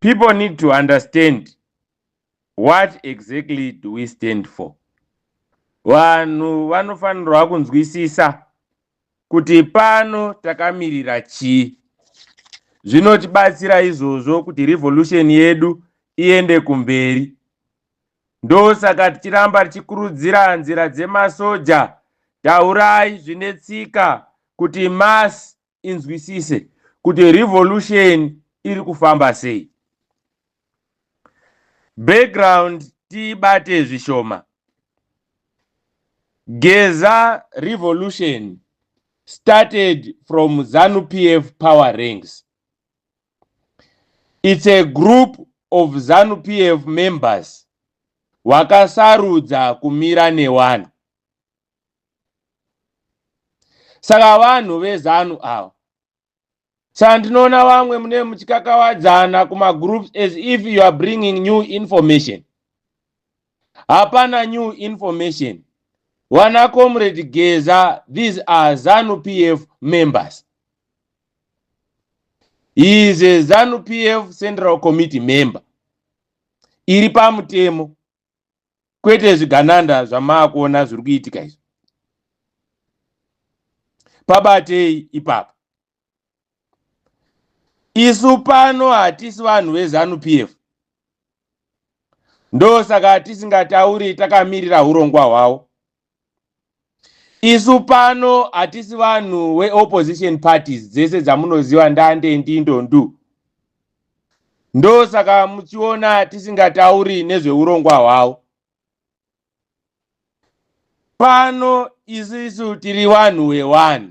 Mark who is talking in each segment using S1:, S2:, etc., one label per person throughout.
S1: people need to understand what exactly do we stand for vanhu vanofanirwa kunzwisisa kuti pano takamirira chii zvinotibatsira izvozvo kuti revolution yedu iende kumberi ndosaka tichiramba tichikurudzira nzira dzemasoja taurai zvine tsika kuti mass inzwisise kuti revolution iri kufamba sei background tiibate zvishoma geza revolution started from zanu pf power ranks it's a group of zanu pf members wakasarudza kumira newanhu saka vanhu vezanu ava saka ndinoona vamwe mune muchikakawadzana kumagroups as if you are bringing new information hapana new information wana comrade geza these are zanu pf members he is a zanu pf central committee member iri pamutemo kwete zvigananda zvamaakuona zviri kuitika izvi pabatei ipapo isu pano hatisi vanhu vezanu p f ndosaka tisingatauri takamirira urongwa hwavo isu pano hatisi vanhu weopposition parties dzese dzamunoziva ndande ndindondu ndosaka muchiona tisingatauri nezveurongwa hwavo pano isisu tiri vanhu wewanhu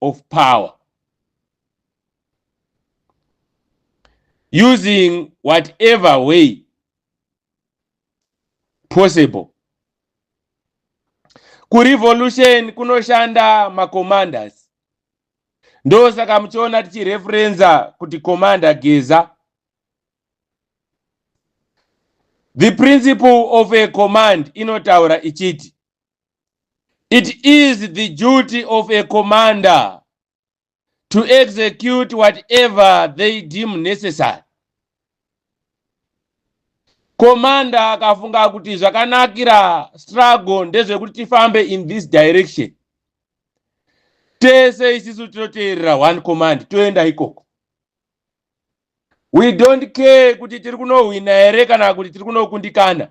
S1: of power using whatever way possible kurevolution kunoshanda macommanders ndosaka muchiona tichireferenza kuti commander geza the principle of a command inotaura ichiti It is the duty of a commander to execute whatever they deem necessary. Commander akafunga kuti zvakanakira struggle ndezvekuti tifambe in this direction. Tese isisu tinoteerera one command toenda ikoko. We don't care kuti tiri kunohwina here kana kuti tiri kunokundikana.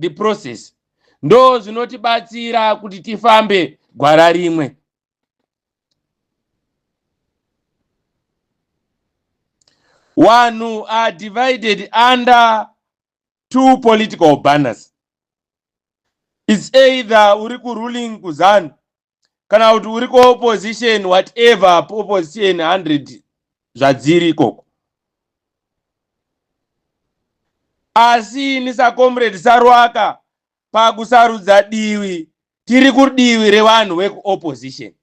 S1: the process ndo zvinotibatsira kuti tifambe gwara rimwe wanhu are divided under two political banners its either uri kuruling kuzanu kana kuti uri kuopposition whatever opposition 100 zvadziri ikoko asi ini sacomrade sarwaka pakusarudza divi tiri kudivi revanhu vekuopposition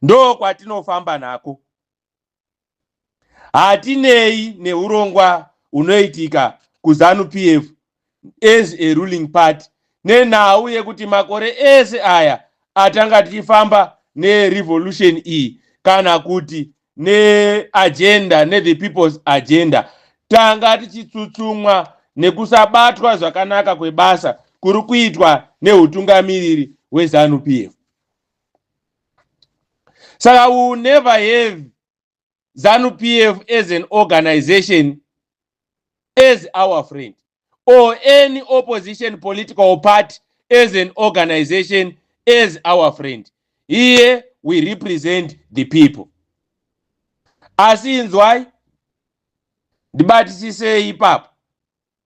S1: ndo kwatinofamba nako hatinei neurongwa hunoitika kuzanu pf as a ruling party nenhau yekuti makore ese aya atanga tichifamba nerevolution iyi kana kuti neagenda nethe people's agenda tanga tichitsutsumwa nekusabatwa zvakanaka kwebasa kuri kuitwa neutungamiriri hwezanu pf saka we will never have zanu pf as an organization as our friend or any opposition political party as an organization as our friend here we represent the people asi inzwai ndibatisisei ipapo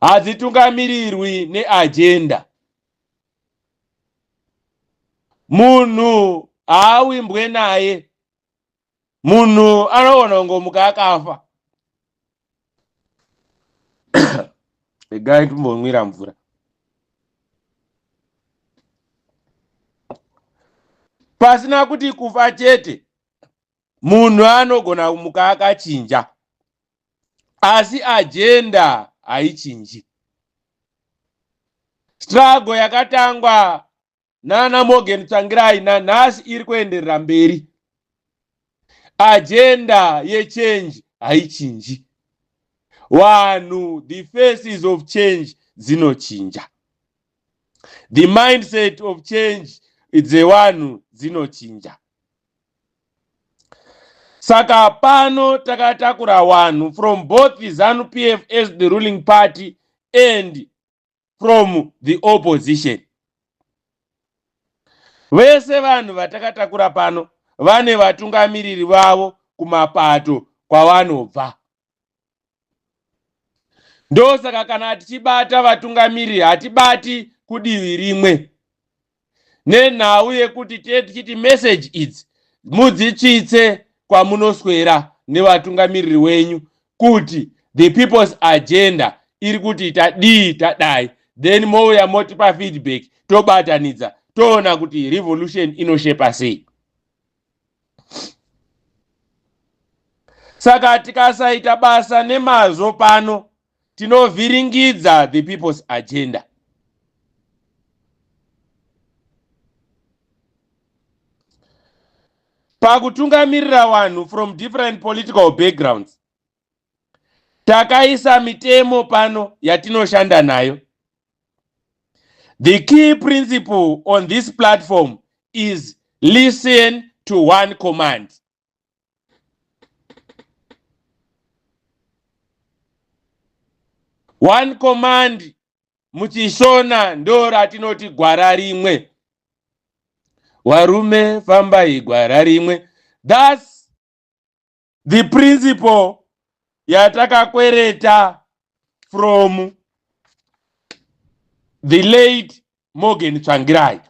S1: hadzitungamirirwi neajenda munhu haawimbwe naye munhu anogona kungomuka akafa regai timbonwira mvura pasina kuti kufa chete munhu anogona kumuka akachinja asi ajenda haichinji strago yakatangwa nana morgan tsvangirai nanhasi iri kuenderera mberi ajenda yechange haichinji wanhu the faces of change dzinochinja the mindset of change dzewanhu dzinochinja Saka pano takatakura wanhu from both Zanu PF as the ruling party and from the opposition. Vese vanhu vatakatakura pano vane vatungamiriri vavo kumapato kwavanobva. ndosaka kana tichibata vatungamiri hatibati kudivi rimwe nenhau yekuti tee tichiti meseji idzi mudzitsvitse kwamunoswera nevatungamiriri wenyu kuti the people's agenda iri kuti tadii tadai then mouya motipa feedback tobatanidza toona kuti revolution inoshepa sei saka tikasaita basa nemazvo pano tinovhiringidza the people's agenda pakutungamirira vanhu from different political backgrounds takaisa mitemo pano yatinoshanda nayo the key principle on this platform is listen to one command one command muchishona ndo ratinoti gwara rimwe warume fambai gwara rimwe thus the principle yatakakwereta from the late morgan tsvangirai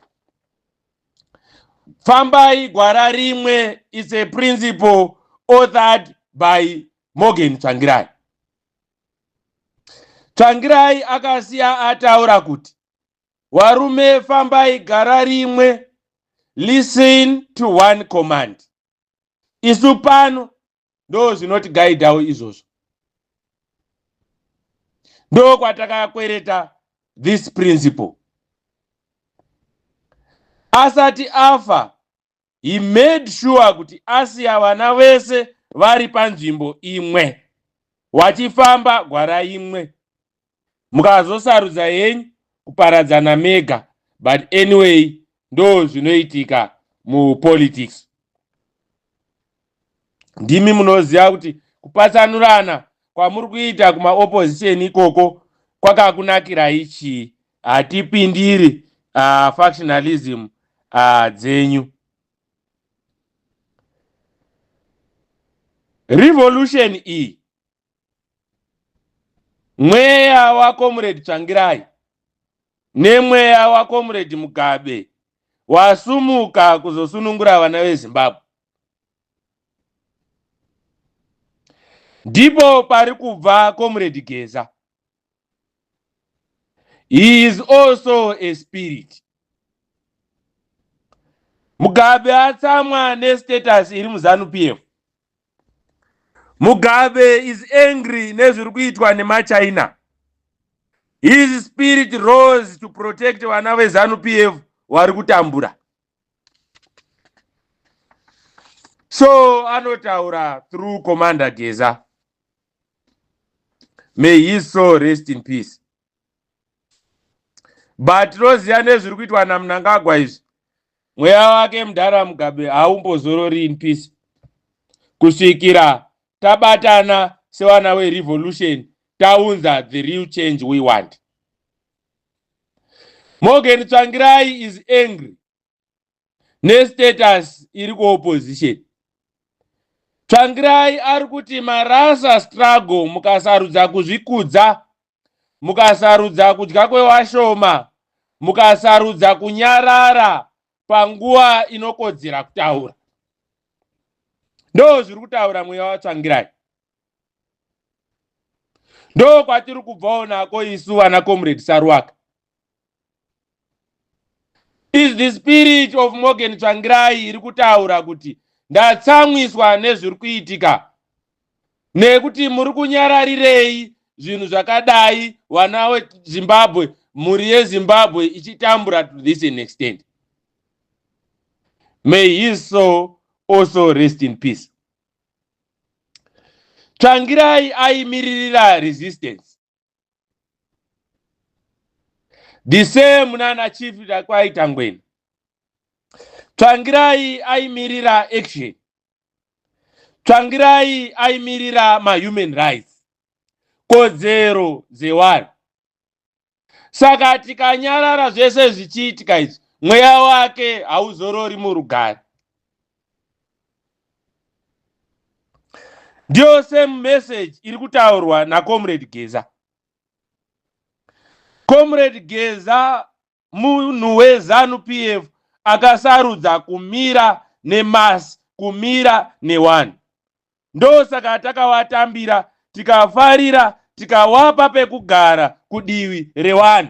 S1: fambai gwara rimwe is a principle authored by morgan tsvangirai tsvangirai akasiya ataura kuti warume fambai gara rimwe listen to one command isu pano ndo zvinotigaidhawo izvozvo ndo kwatakakwereta this principle asati afa he made sure kuti asiya vana vese vari panzvimbo imwe wachifamba gwara imwe mukazosarudza henyu kuparadzana mega but anyway ndo zvinoitika mupolitics ndimi munoziva kuti kupatsanurana kwamuri kuita kumaopposition ikoko kwakakunakirai chii hatipindiri uh, factionalism uh, dzenyu revolution iyi mweya wakomuredi tsvangirai nemweya wakomuredi mugabe wasumuka kuzosunungura vana vezimbabwe ndipo pari kubva komuredi geza he is also a spirit mugabe atsamwa nestatus iri muzanu pf Mugabe is angry nezviri kuitwa nemaChina. His spirit rose to protect vana veZanu PF vari kutambura. So anotaura through Commander Geza. May his soul rest in peace. but tinoziva nezviri kuitwa namnangagwa izvi mweya wake mudhara mugabe haumbozorori in peace kusvikira tabatana sevana werevolution taunza the real change we want morgan tsvangirai is angry nestatus iri kuopposition tsvangirai ari kuti marasa struggle mukasarudza kuzvikudza mukasarudza kudya kwewashoma mukasarudza kunyarara panguva inokodzera kutaura ndo zviri kutaura mweya watsvangirai ndo kwatiri kubvawo nako isu vana comrade saruwaka Is the spirit of Morgan Tsvangirai iri kutaura kuti ndatsamwiswa nezviri kuitika nekuti muri kunyararirei zvinhu zvakadai vana wezimbabwe mhuri yezimbabwe ichitambura to this an extent may his soul also rest in peace tsvangirai aimiririra resistance the same nana chief kwaita ngweni tsvangirai aimirira action tsvangirai aimirira mahuman rights kodzero dzewanhu saka tikanyarara zvese zvichiitika izvi mweya wake hauzorori murugare ndiyo same message iri kutaurwa nacomrade geza comrade geza munhu wezanu p f akasarudza kumira nemasi kumira newani ndosaka takawatambira tikafarira tikawapa pekugara kudivi rewani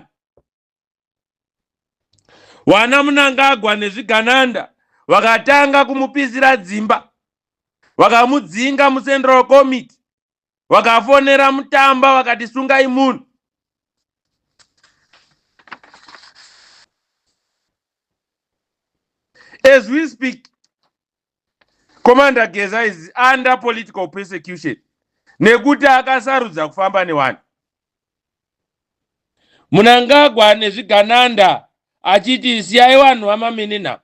S1: Wana Munangagwa nezvigananda vakatanga kumupisira dzimba vakamudzinga mucentral committee vakafonera mutamba vakati sungai munhu as we speak Commander Geza is under political persecution nekuti akasarudza kufamba nevanhu. Munangagwa nezvigananda achiti siyai vanhu vamaminina.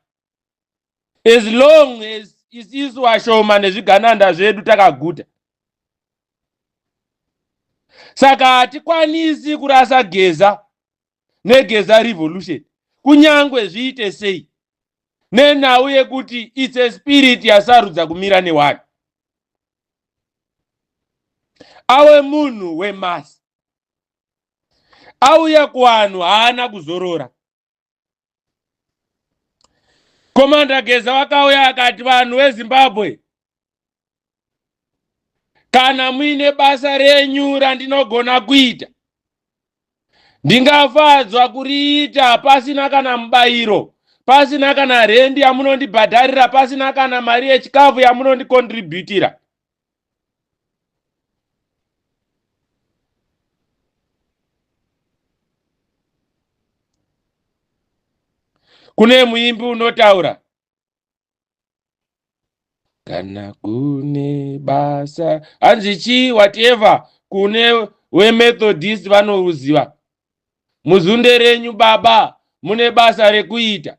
S1: As long as isisu vashoma nezvigananda zvedu takaguta. Saka hatikwanisi kurasa Geza negeza revolution kunyangwe zviite sei nenhau yekuti its a spirit yasarudza kumira newanhu awe munhu wemasi auya kuwanhu haana kuzorora Komanda Geza vakauya akati vanhu veZimbabwe kana muine basa renyu randinogona kuita ndingafadzwa kuriita pasina kana mubayiro pasina kana rendi yamunondibhadharira pasina kana mari yechikafu yamunondikontribhutira kune muimbi unotaura kana kune basa hanzi chii whatever kune wemethodist vanoruziva muzunde renyu baba mune basa rekuita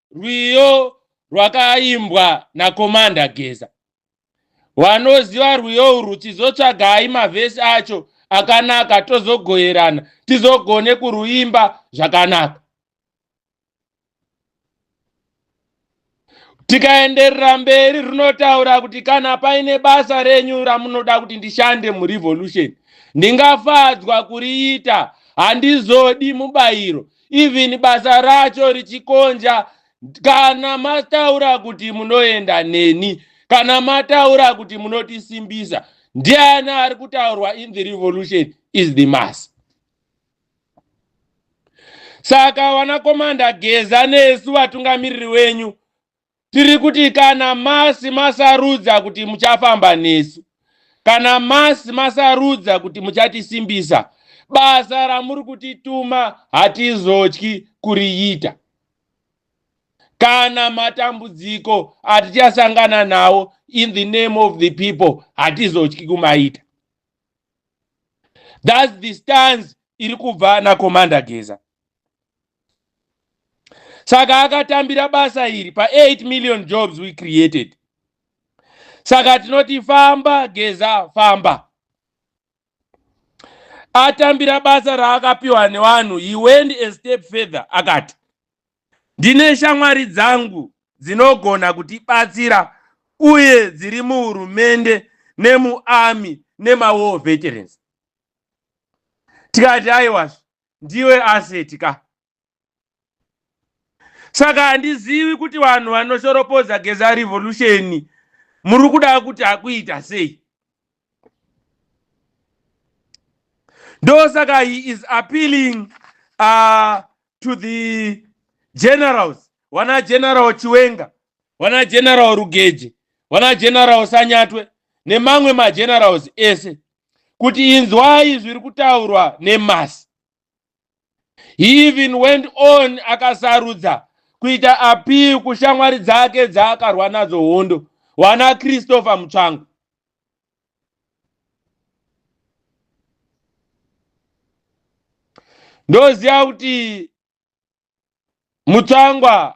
S1: rwiyo rwakaimbwa nakomanda geza wanoziva rwiyo urwu chizotsvagai mavhesi acho akanaka tozogoerana tizogone kuruimba zvakanaka tikaenderera mberi runotaura kuti kana paine basa renyu ramunoda kuti ndishande murevolution ndingafadzwa kuriita handizodi mubayiro even basa racho richikonja kana mataura kuti munoenda neni kana mataura kuti munotisimbisa ndiani ari kutaurwa in the revolution is the mass saka vanakomanda geza nesu vatungamiriri wenyu Tiri kuti kana masi masarudza kuti muchafamba nesu, kana masi masarudza kuti muchatisimbisa, basa ramuri kutituma hatizotyi kuriita. Kana matambudziko atichasangana nawo in the name of the people hatizotyi kumaita. That's the stance iri kubva naCommander Geza. saka akatambira basa iri pa8 million jobs we created saka tinoti famba geza famba atambira basa raakapiwa nevanhu he went a step further akati ndine shamwari dzangu dzinogona kutibatsira uye dziri muhurumende nemuarmy nemawar veterans tikati aiwazvo ndiwe asset ka saka handizivi kuti vanhu vanoshoropodza geza revolution muri kuda kuti akuita sei ndosaka he is appealing uh, to the generals wana general chiwenga wana general rugeje wana general sanyatwe nemamwe magenerals ese kuti inzwai zviri kutaurwa nemasi he even went on akasarudza kuita appeal kushamwari dzake dzaakarwa nadzo hondo wana christopher mutsvangu ndoziva kuti mutsvangwa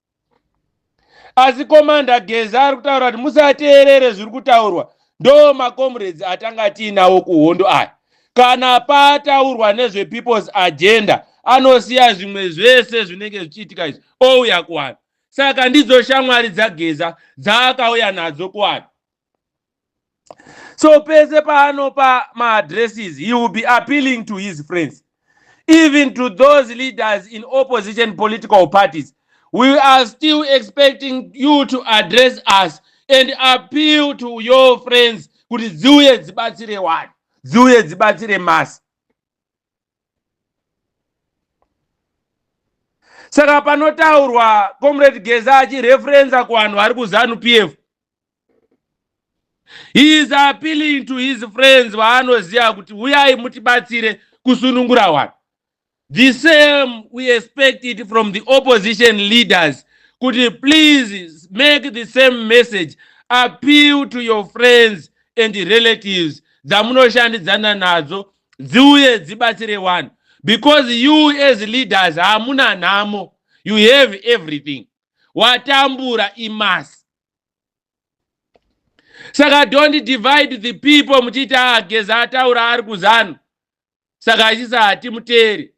S1: asi komanda geza ari kutaura kuti musateerere zviri kutaurwa ndo macomrades atanga tiinawo kuhondo aya kana pataurwa nezvepeoples agenda anosiya zvimwe zvese zvinenge zvichiitika izvi ouya kuvanhu saka ndidzo shamwari dzageza dzaakauya nadzo kuvanhu so pese paanopa maaddresses he will be appealing to his friends even to those leaders in opposition political parties we are still expecting you to address us and appeal to your friends kuti dziuye dzibatsire wani dziuye dzibatsire masi saka panotaurwa comrade geza achireferenza kuvanhu vari kuzanu p f he is appealing to his friends vaanoziva kuti huyai mutibatsire kusunungura wanhu the same we expect it from the opposition leaders kuti please make the same message appeal to your friends and relatives dzamunoshandidzana nadzo dziuye dzibatsire wanhu because you as leaders hamuna nhamo you have everything watambura imasi saka don't divide the people muchiti ageza ah, ataura ari kuzanu saka achisa hatimuteeri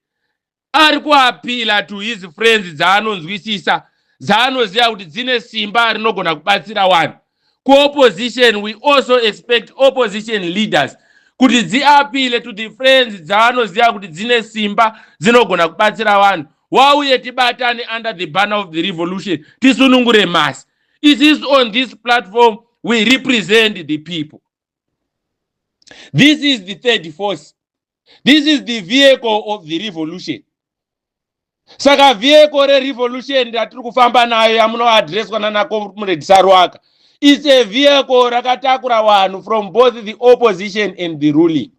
S1: ari kuapila to his friends dzaanonzwisisa dzaanoziva kuti dzine simba rinogona kubatsira wani kuopposition we also expect opposition leaders kuti dziapile to the friends dzaanoziva kuti dzine simba dzinogona kubatsira vanhu wauye tibatane under the banner of the revolution tisunungure mhasi it is on this platform we represent the people this is the third force this is the vehicle of the revolution saka vehicle rerevolution ratiri kufamba nayo yamunoadreswa nanacomrade saruaka its a vehicle rakatakura vanhu from both the opposition and the ruling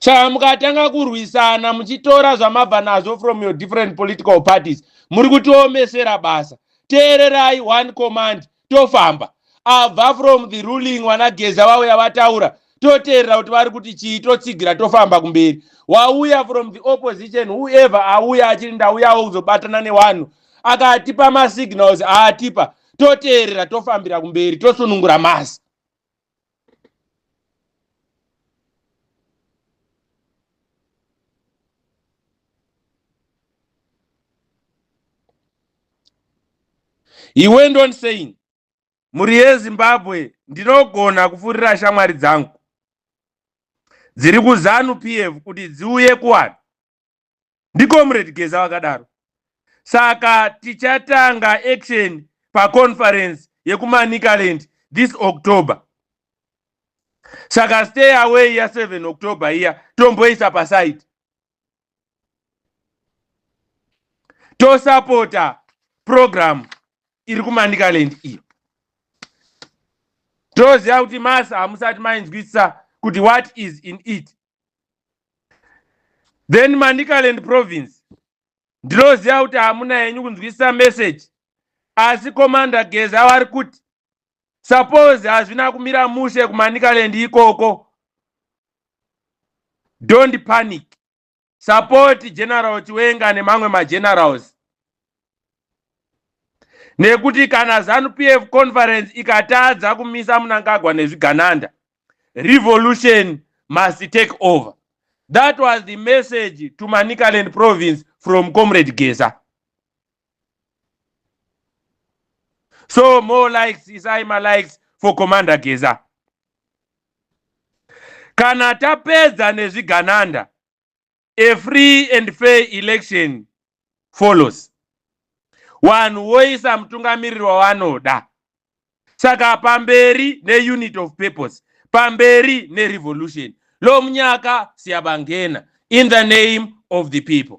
S1: saka mukatanga kurwisana muchitora zvamabva nazvo from your different political parties muri kutiomesera basa teererai one command tofamba abva from the ruling vanageza vauya vataura toteerera kuti vari kuti chii totsigira tofamba kumberi wauya from the opposition whoever auya achiri ndauyawo kuzobatana newanhu akatipa masignals aatipa toteerera tofambira kumberi tosunungura masi He went on saying, mhuri yezimbabwe ndinogona kupfurira shamwari dzangu dziri kuzanu pf kuti dziuye kuwanhu ndicomrade geza vakadaro saka tichatanga action paconference yekumanicaland this october saka stay away ya 7 october iya tomboisa paside tosapota program iri kumanicaland iyo toziva kuti masa hamusati mainzwisisa kuti what is in it then manicaland province ndinoziva kuti hamuna henyu kunzwisisa message asi commander geza vari kuti suppose hazvina kumira mushe kumanicaland ikoko don't panic support general chiwenga nemamwe magenerals nekuti kana zanu pf conference ikatadza kumisa munangagwa nezvigananda revolution must take over that was the message to manicaland province from comrade gesa so more likes isai malikes for commander gesa kana tapedza nezvigananda a free and fair election follows vanhu voisa mutungamiriri wavanoda saka pamberi neunit of purpose pamberi nerevolution lomunyaka siyabangena in the name of the people